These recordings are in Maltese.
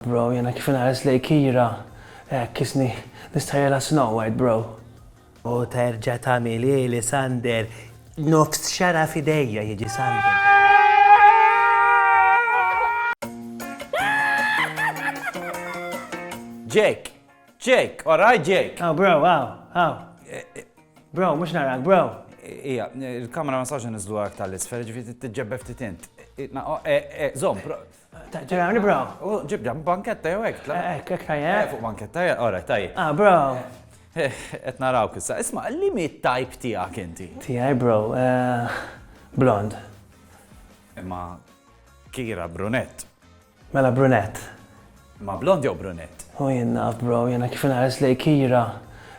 Bro jiena kif inħares lejn Kira hekk kisni nistħajjilha Snow White bro. U terġa' tagħmilhieli Sander nofs xagħra f'idejja jiġi Sander. Jake! Jake! Alright Jake! Oh bro, wow, wow. Eh, eh. Bro, mhux narak, bro. Ija, il-kamera ma sax nizlu għak tal-isfer, ġifi t-ġebbef t-tint. Zom, Ġera, bro. U ġibda, banketta jew hekk, tla. Hekk, hekk tajjeb. Eh, fuq banketta, eh, ora, tajjeb. Ah, bro. Eh, qed naraw kissa. Isma, li mi tajp tiegħek inti? Tiegħi, bro. Eh, blond. Imma kira brunett. Mela brunett. Ma blond jew brunett? U jenna, bro, jenna kif nares li kira.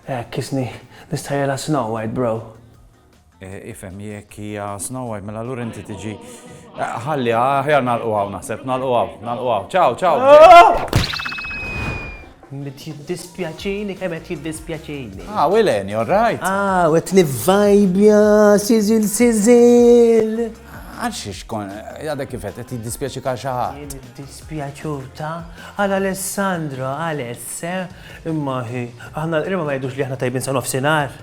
Hekk kisni nistajela snow white, bro. Ifhem, jekk hija Snow White, mela allura inti tiġi. Ħalli, aħjar nagħlqu hawn naħseb, nagħlqu hawn, nagħlqu hawn. Ciao, ciao! Mit jiddispjaċini, kemm qed jiddispjaċini. Ah, Wilen, you're right. Ah, u qed nivvajbja, siżil, siżil. Għaxiex kon, għadek kifet, qed jiddispjaċi ka xi ħadd. Jien iddispjaċur ta' għal Alessandro, Aless, eh? imma hi, aħna l-qrima ma jgħidux li aħna tajbin sa nofsinhar.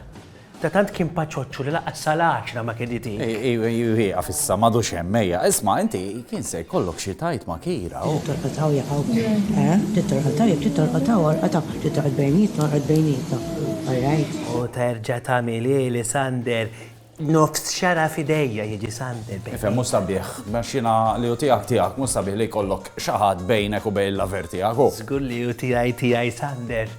Ta' tant kien paċoċċu li lanqas sal-għaxra ma kien itik. Ieqaf issa, m'għadux hemm, ejja. Isma', inti kien se jkollok xi tgħid ma' Kira u. Titolqot hawn jekk hawn. Eh? Titolqot hawn jekk titolqot hawn olqot hawn. Titolqot bejnietna olqot bejnietna. All right? U terġa' tagħmel hi li Sander nofs xara f'idejja jiġi Sander bejnietna. Ifhem, mhux sabiħ. Għax jiena li hu tiegħek tiegħek, mhux sabiħ li jkollok xi ħadd bejnek u bejn l-lover tiegħek u. Żgur li hu tiegħi tiegħi Sander.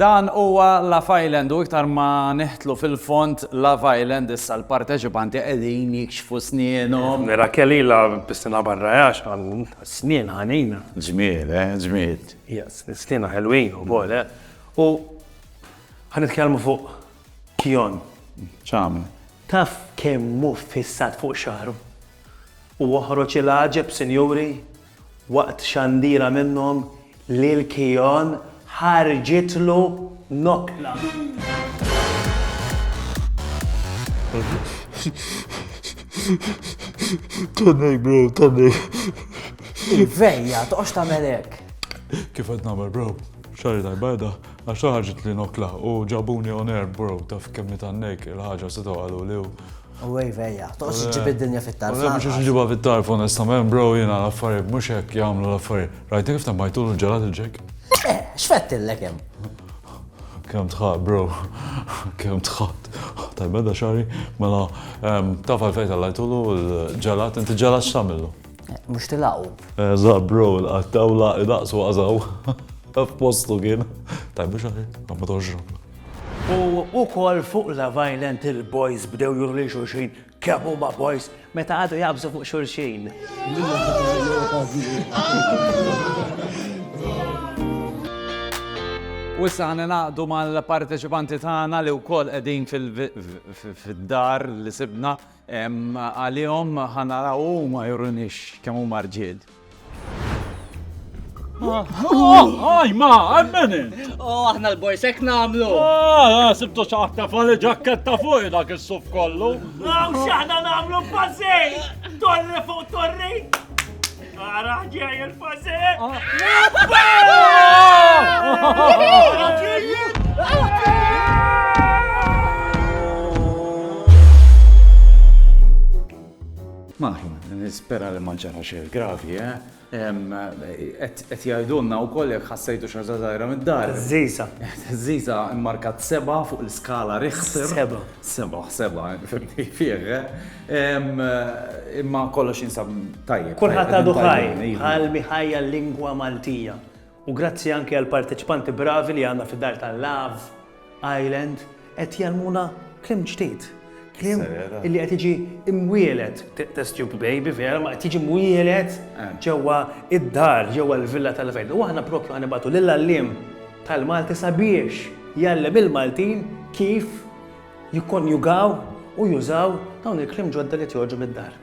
Dan huwa Love Island u iktar ma nidħlu fil-fond Love Island issa l-parteċipanti qegħdin jikxfu snienhom. Raquel ilha b'sena barra għax għandha snien ħanina. Ġmiel, eh, ġmiel. Yes, snienha ħelwin ukoll, eh. U ħa nitkellmu fuq Kion. X'għamel? Taf kemm hu ffissat fuq xagħru? Huwa ħroġ il-għaġeb, sinjuri? Waqt xandira minnhom, Lil Keon ħarġitlu nokla. Vejja, toqgħodx tagħmel hekk. Kif qed nagħmel bro? X'għarri tal-bajda? Għax ħarġitli nokla u ġabuni on air bro taf kemm nitgħannejk il-ħaġa setgħu qaluli u U għej vejja, toqgħodx iġġib id-dinja fit-tarf. Ma nafx iġibha fit-tarf onestament, bro, jiena l-affarijiet mhux hekk jagħmlu l-affarijiet. Rajt kif temmajtulu ġelat il-ġek? Eh, x'fett illek hemm? Kemm tħadd, bro. Kemm tħadd. Tajba da xari, mela taf għalfejn tal-lajtulu l-ġelat, inti ġelat x'tagħmillu? Eh, mhux tilaqu. Eh, za bro, l-qattawla idaqsu għażaw. F'postu kien. Tajba xari, ma toġġu. U ukoll fuq Love Island il-boys bdew juru lil xulxin kemm huma boys meta għadu jabżu fuq xulxin. U issa ħana naqdu mal-parteċipanti tagħna li wkoll qegħdin fid-dar li sibna Għalihom ħa naraw huma jurunix kemm huma rġiel. Għaj, ma, għammeni! Oh, aħna l-borsek namlu! Ah, sibtu xaħta fali ġakketta fuq dak il-suf kollu! Għaw, xaħna namlu bazzej! Torri fuq torri! Ara ġej il-fażel! Maħna, nispera li manġana xejn gravi, eh? Qed jgħidulna wkoll jekk ħassejtu xi ħaġa żgħira mid-dar. Żiża. Żiża mmarkat seba' fuq l-iskala riħsir. Seba'. Seba', seba', fimni fih, eh? Imma kollox jinsab tajjeb. Kulħadd għadu ħaj, bħal miħajja l-lingwa Maltija. U grazzi anki għall-parteċipanti bravi li għandna fid-dar ta' Love Island qed jgħallmuna kliem ġdid. Kliem li qed jiġi imwielet, test tube baby vera, ma qed jiġi mwielet eh. ġewwa id-dar, ġewwa l-villa tal-fejn. U aħna propju ħanibatu lill-għalliem tal-Malti sabiex jgħallem il-Maltin kif jikkonjugaw u jużaw dawn il-kliem ġodda li qed joħorġu mid-dar.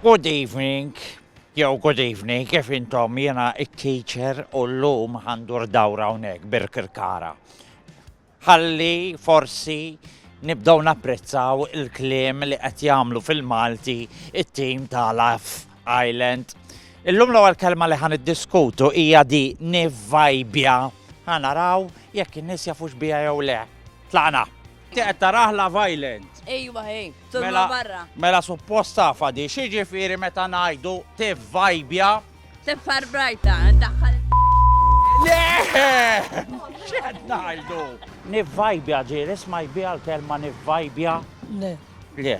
Good evening, jew good evening, kif intom jiena it-teacher u llum ħandur dawra hawnhekk birkirkara. Ħalli forsi nibdew napprezzaw il-kliem li qed jagħmlu fil-Malti it-tim ta' laf Island. Illum l-ewwel kelma li ħa niddiskutu hija di nivvajbja. Ħa naraw jekk in-nies jafux biha jew le. Tlaqna. Tiqed tarah Love Island. Ejwa ej, tolma barra. Mela suppost tafa di xi ġifieri meta ngħidu tivvajbja. Tifar brajta, daħħal. Le! X'qed ngħidu? Nivvajbja ġieli smajt biha l-kelma nivvajbja. Le. Le.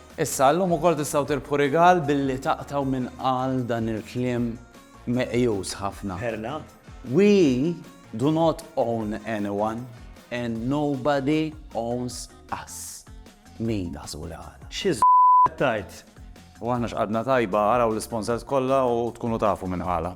Issa, illum ukoll tistgħu tirbħu rigal billi taqtgħu min qal dan il-kliem meqjus ħafna. Perla. We do not own anyone and nobody owns us. Min taħsbu li qala? Xi z qed tgħid? U aħna x'qadna tajba, araw l-isponsors kollha u tkunu tafu min qala.